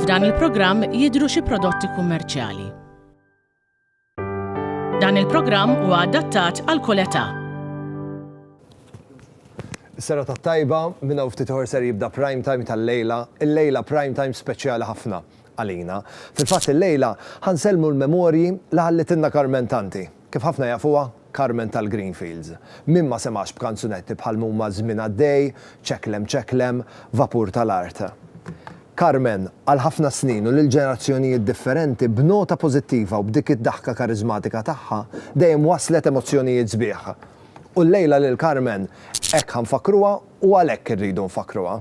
F'dan il-programm jidhru xi prodotti kummerċjali. Dan il-programm huwa adattat għal kull età. Is-sera tat-tajba, minn hawn ftit ieħor ser jibda prime time tal-lejla, il-lejla prime time speċjali ħafna għalina. Fil-fatt il-lejla ħansellmu l-memorji li ħallitilna Carmen Tanti. Kif ħafna jafuha, Carmen tal-Greenfields, min ma semax b'kanzunetti bħal mhuma Żmien għaddej, Ċeklem ċeklem, Vapur tal-art. Carmen, għal ħafna snin u lil ġenerazzjonijiet differenti, b'nota pożittiva u b'dik id-daħka kariżmatika tagħha, dejjem wasslet emozzjonijiet sbieħ. U llejla lil Carmen hekk ħa nfakkruha u għalhekk irridu nfakkruha.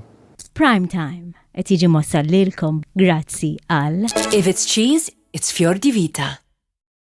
Prime Time qed jiġi mwassal lilkom grazzi għal. If it's cheese, it's Fjor di Vita.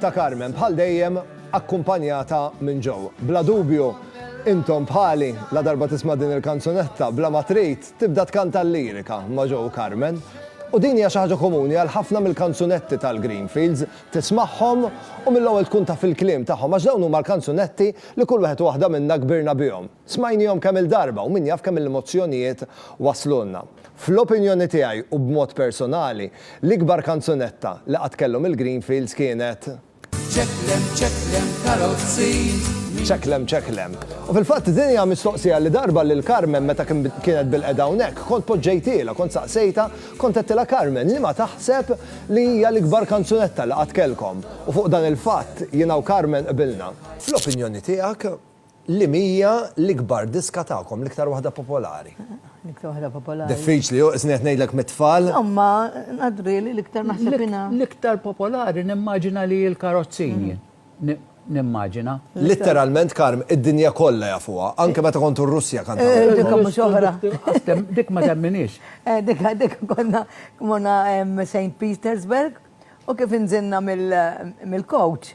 ta' Carmen, bħal dejjem akkumpanjata minn Joe. Bla dubju, intom bħali, ladarba tisma' din il-kanzunetta, bla ma trid, tibda tkanta l-lirika ma' Joe u Carmen. U din hija xi ħaġa komuni għal ħafna mill-kanzunetti tal-Greenfields, tismagħhom u mill-ewwel tkun taf il-kliem tagħhom għax dawn huma l-kanzunetti li kull wieħed u waħda minna kbirna bihom. Smajniehom kemm-il darba u min jaf kemm-il mozzjonijiet waslulna. Fl-opinjoni tiegħi u b'mod personali, l-ikbar kanzunetta li qatt kellhom il-Greenfields kienet. Ċeklem ċeklem karozzi. Ċeklem ċeklem. U fil-fatt din hija mistoqsija li darba lil Carmen meta kienet bil-qegħda hawnhekk, kont poġġejtilha, kont saqsejtha, kont għedtilha Carmen liema taħseb li hija l-ikbar kanzunetta li qatt kellkom? U fuq dan il-fatt jiena u Carmen qbilna. Fl-opinjoni tiegħek, Li mhija l-ikbar diska tagħkom, l-iktar waħda popolari? L-iktar waħda popolari. Diffiċli, isni qed ngħidlek mit-tfal. Imma ngħadri li l-iktar naħseb jiena. L-iktar popolari nimmaġina li l-karozzini. Nimmaġina. Litteralment Karm, id-dinja kollha jafuha, anke meta kontu r-Russja kant. Eh, dik mhux oħra. Dik ma temminix. Eh, dik dik konna kmona St. Petersburg u kif inżinna mill-coach.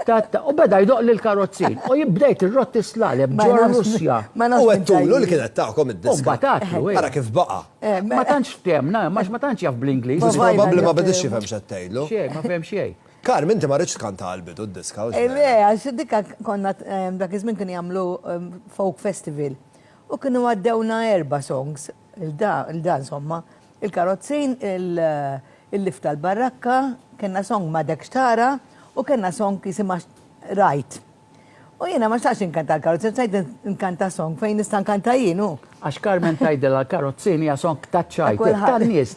U beda jdoq lil karozzin. U jibbdejt irrotti slalem ġol Russja. U għettulu li kienet tagħkom id-diska. U batatlu. Ara kif baqa. Ma tantx ftemna, max ma tantx jaf bl-Ingliż. Mhux probabbli ma bidix jifhem x'qed tgħidlu. Xejn, ma fehem xejn. Carm, inti ma rridx tkanta għal bidu d-diska. Le, għax dikka konna dak iż-żmien kienu jagħmlu folk festival. U kienu għaddewna erba' songs, il-da, il-da insomma. Il-karozzin, il-lift tal-barrakka, kellna song M'Għadek X'Tara u kellna song jisimha Rajt. U jiena ma xtaqtx inkanta l-karozzin, xtaqt inkanta song fejn nista' nkanta jien, hu. Għax Carmen tgħidilha l-karozzin hija song taċ-ċajt, tan-nies,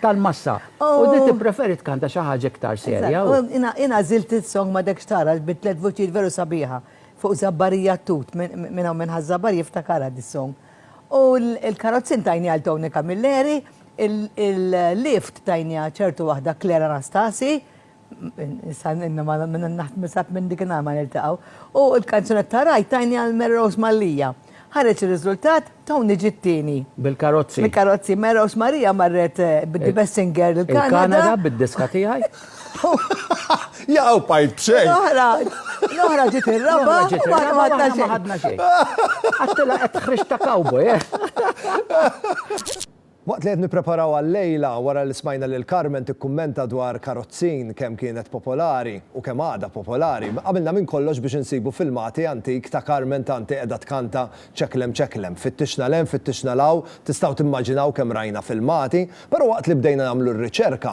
tal-massa. U din tippreferi tkanta xi ħaġa iktar serja. Jien għażilt is-song M'Għadek X'Tara bi tliet vuċijiet veru sabiħa fuq żabbarija t-tut, min hawn minn ħa żabbarija jiftakarha dis-song. U l-karozzi ntajni għal Tony Camilleri, il-lift tajni għal ċertu waħda Claire Anastasi, issa inna ma naħseb minn dik in-nhar ma niltaqgħu, u l-kanzunetta Ride tajni għal Mary Rose Mallia. Ħareġ ir-riżultat, Tony ġie t-tieni. Bil-karozzi. Bil-karozzi. Mary Rose Mallia marret bid-The Best Singer il-Kanada. Il-Kanada bid-diska tiegħi. Jaqaw pajt b'xejn. L-oħra, l-oħra ġiet ir-raba, u ma ħadna xejn. Ma ħadna xejn. Għattila qed tħrix ta' cowboy, eh? Waqt li qed nippreparaw għal-lejla wara li smajna lil Carmen tikkummenta dwar karozzin kemm kienet popolari u kemm għadha popolari, għamilna minn kollox biex insibu filmati antik ta' Carmen Tanti qiegħda tkanta Ċeklem Ċeklem. Fittixna 'l hemm, fittixna 'l hawn, tistgħu timmaġinaw kemm rajna filmati, però waqt li bdejna nagħmlu r-riċerka,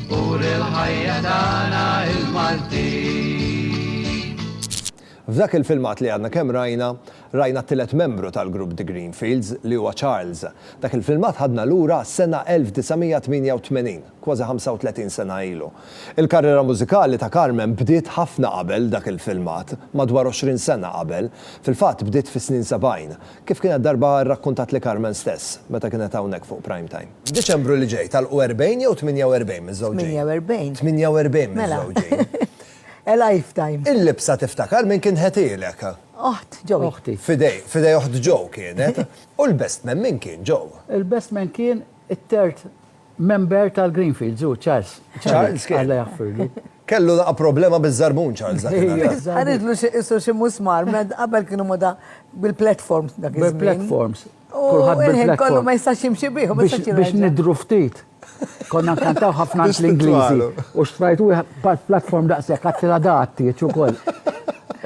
Ur il-ħajja tagħna il-Maltin. F'dak il-filmat li għadna kemm rajna, rajna t-tielet membru tal-grupp The Greenfields, li huwa Charles. Dak il-filmat ħadna lura għas-sena 1988, kważi 35 sena ilu. Il-karriera mużikali ta' Carmen bdiet ħafna qabel dak il-filmat, madwar 20 sena qabel, fil-fatt bdiet fis-snin 70, kif kienet darba rrakkuntatli Carmen stess, meta kienet hawnhekk fuq Primetime. F'Diċembru li ġej tagħlqu 40 jew 48 miż-żewġin? 48. 48 miż-żewġin. A lifetime. Il-libsa tiftakar min kien ħetielek? Oħt Joe. Oħti. Fidej, fidej oħt Joe kienet. U l-best man min kien, Joe? Il-best man kien it-tert member tal-Greenfields, hu Charles. Charles kien. Alla jaħfirlu. Kellu daqa problema bizzarbun Charles dak Għanidlu xie xie musmar, qabel kienu moda bil-platforms dak Bil-platforms. Kulħadd bil-black coat. Kollu ma jistax jimxi bih. Biex nidru ftit. Konna nkantaw ħafna l-Ingliżi. U xtrajt u platform daqshekk għattila daqt jieċ ukoll.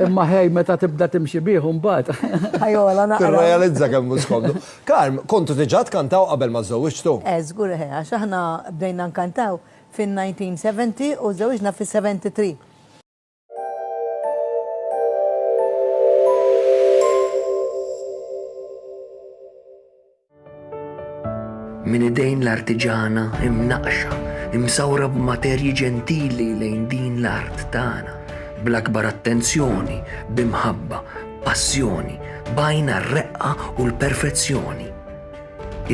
Imma ħej meta tibda timxi bih mbagħad. Ħajola naqra. Tirrealizza kemm mhux komdu. Karm, kontu diġà tkantaw qabel ma żżewwiġtu? Eh, żgur ħe, għax aħna bdejna nkantaw fin-1970 u żżewwiġna fis-73. Minn idejn l-artiġana imnaqqxa, imsawra b'materji ġentili lejn din l-art tagħna, bl-akbar attenzjoni, b'imħabba, b'passjoni, b'għajn għar-reqqa u l-perfezzjoni.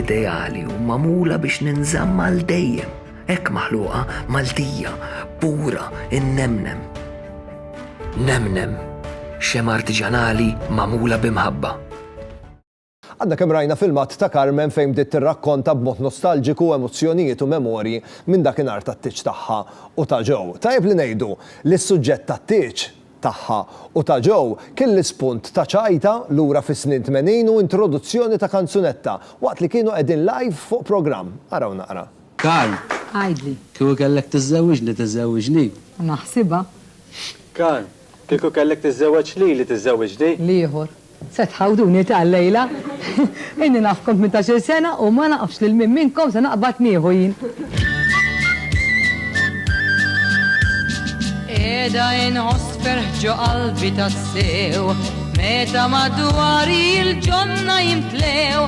Ideali u magħmula biex ninżamm għal dejjem. Hekk maħluqa Maltija, pura, innemnem. Nemnem, xemgħa artiġanali magħmula bi mħabba. Għadna kemm rajna filmat ta' Carmen fejn bdiet tirrakkonta b'mod nostalġiku emozzjonijiet u memorji minn dakinhar tat-tieġ tagħha u ta' Joe. Tajjeb li ngħidu li s-suġġett tat-tieġ tagħha u ta' Joe kien l-ispunt ta' ċajta lura fis-snin tmenin u introduzzjoni ta' kanzunetta waqt li kienu qegħdin live fuq programm. Araw naqra. Karl, Għidli. Kieku kellek tiżżewwiġni, tiżżewwiġni? Naħsibha. Karl, Kieku kellek tiżżewweġ lili, tiżżewwiġni? L-ieħor, Se tħawduni ta' llejla. Inni nafkom tmintax-il sena u ma nafx lil min minnkom se naqbad nieħu jien. Qiegħda inħoss ferħ ġo qalbi tassew meta madwari l-ġonna jimtlew.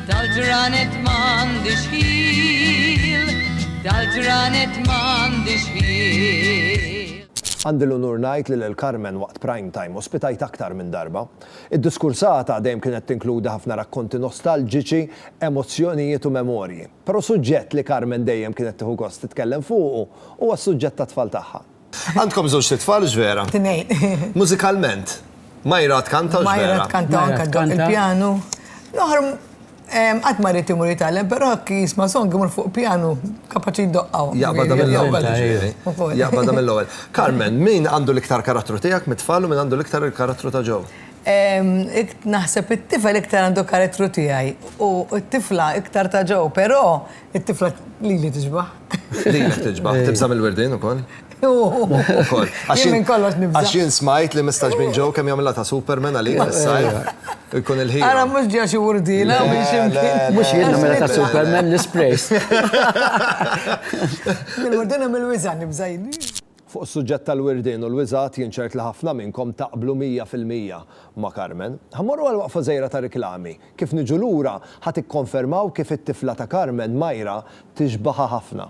Dal-ġranet m'għandix ħil, dal-ġranet m'għandix ħil. Għandi l-unur ngħid li lil Carmen waqt Prime Time ospitajt aktar minn darba. Id-diskursata dejjem kienet tinkludi ħafna rakkonti nostalġiċi, emozzjonijiet u memorji. Però suġġett li Carmen dejjem kienet tieħu gost titkellem fuqu huwa s-suġġett tat-tfal tagħha. Għandkom żewġt itfal hux vera? Tnejn. Mużikalment? Myra tkanta hux vera? Myra tkanta u anke ddoqq il-pjanu. Noħor qatt ma ried imur jitgħallem, però jekk jisma' song imur fuq pjanu kapaċi jdoqqha. Jaqbadha mill-ewwel. Jaqbadha mill-ewwel. Carmen, min għandu l-iktar karattru tiegħek mit-tfal u min għandu l-iktar il-karattru ta' Joe? Naħseb it-tifel iktar għandu karattru tiegħi u t-tifla iktar ta' Joe, però It-tifla lili tiġbaħ. Lilek tiġbaħ, tibża mill-wirdin ukoll. Ukoll. Għax minn kollox nibża. Għax jien smajt li mistax minn ġew kemm jagħmilha ta' Superman għalik is-sajf. Ikun il-ħin. Ara mhux ġew xi wurdina minn xi mkien. Mhux jien nagħmilha ta' Superman l-isprays. Mill-wurdina mill-wiża nibża jien. Fuq is-suġġett tal-wirdien u l-wiżgħat jien ċert li ħafna minnkom taqblu mija fil-mija ma' Carmen. Ħa mmorru għal waqfa żgħira ta' riklami. Kif niġu lura, ħa tikkonfermaw kif it-tifla ta' Carmen, Myra, tixbaħha ħafna.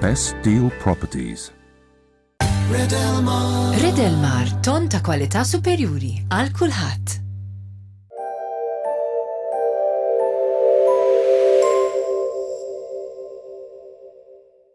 Best Deal Properties. Redelmar. Redelmar, ton ta' kwalità superjuri għal kulħadd.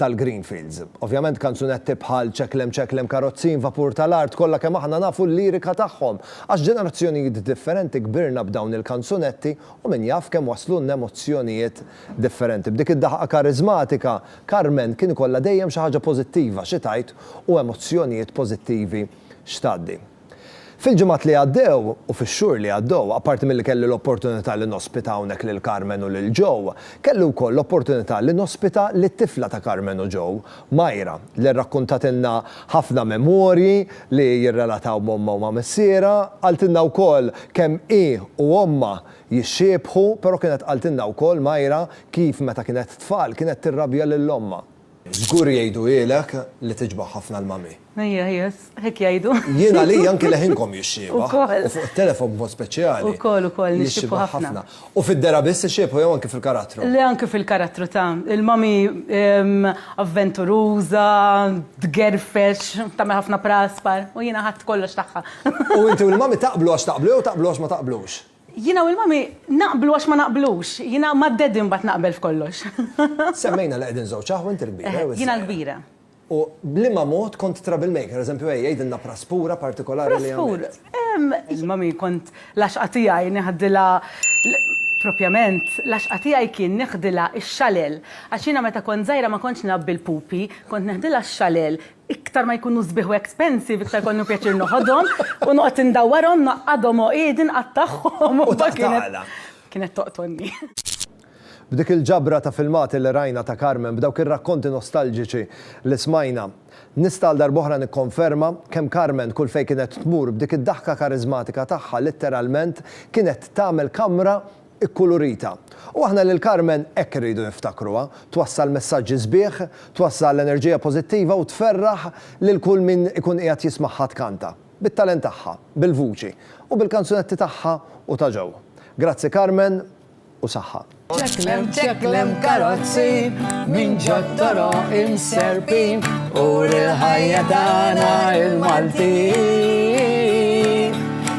tal-Greenfields. Ovvjament kanzunetti bħal Ċeklem Ċeklem Karozzin, Vapur tal-Art kollha kemm aħna nafu l-lirika tagħhom għax ġenerazzjonijiet differenti kbirna b'dawn il-kanzunetti u min jaf kemm waslulna emozzjonijiet differenti. B'dik id-daħqa kariżmatika, Carmen kien ikollha dejjem xi ħaġa pożittiva xi tgħid u emozzjonijiet pożittivi x'tgħaddi. Fil-ġimgħat li għaddew, u fix-xhur li għaddew, apparti milli kelli l-opportunità li nospita hawnhekk lil Carmen u lil Joe, kelli wkoll l-opportunità li nospita lit-tifla ta' Carmen u Joe, Myra, li rrakkuntatilna ħafna memorji li jirrelataw m'ommha u ma' missierha, qaltilna wkoll kemm hi u ommha jixxiebħu, però kienet qaltilna wkoll, Myra, kif meta kienet tfal kienet tirrabja lil ommha. Żgur jgħiduhielek li tiġbaħ ħafna l-mami. Ejja, ejja, hekk jgħidu. Jien għalija anki leħinkom jixxiebha. Ukoll. U fuq it-telefon b'mod speċjali. Ukoll, ukoll, nixxiebħu ħafna. U fid-dehra biss ixxiebħu jew anki fil-karattru? Le anki fil-karattru ta'. Il-mami avventuruża, tgerfex, tagħmel ħafna praspar. U jiena ħadt kollox tagħha. U inti u l-mami taqblu għax taqblu jew taqblu għax ma taqblux? Jiena u l-Mommy naqblu għax ma naqblux. Jiena mad-Daddy mbagħad naqbel f'kollox. Semmejna li qegħdin żewġ aħwa, inti l-kbira jew iż-żgħira? Jiena l-kbira. U b'liema mod kont trouble maker? Pereżempju, ejja, għidilna praspura partikolari li għamilt. Praspura? Mommy kont l-għaxqa tiegħi neħdilha l-, propjament, l-għaxqa tiegħi kien neħdilha x-xalel. Għax jiena meta kont żgħira ma kontx ngħabbi l-pupi, kont neħdilha x-xalel. Iktar ma jkunu sbieħ u expensive, iktar kollu pjaċir noħodhom u noqgħod indawwarhom, naqgħadhom għoqiedi nqattagħhom. U taħt l-għala. Kienet toqtolni. B'dik il-ġabra ta' filmati li rajna ta' Carmen, b'dawk ir-rakkonti nostalġiċi li smajna, nista' għal darb'oħra nikkonferma kemm Carmen kull fejn kienet tmur b'dik id-daħka kariżmatika tagħha litteralment kienet tagħmel kamra ikkulurita. U aħna lil Carmen hekk irridu niftakruha, twassal messaġġi sbieħ, twassal enerġija pożittiva u tferraħ lil kull min ikun qiegħed jismagħha tkanta, bit-talent tagħha, bil-vuċi, u bil-kanzunetti tagħha u ta' Joe. Grazzi Carmen u saħħa. Ċeklem ċeklem karozzi minn ġod toroq imserpin uri l-ħajja tagħna l-Maltin.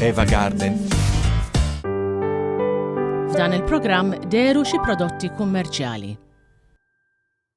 Eva Garden. F'dan il-programm deru xi prodotti kummerċjali.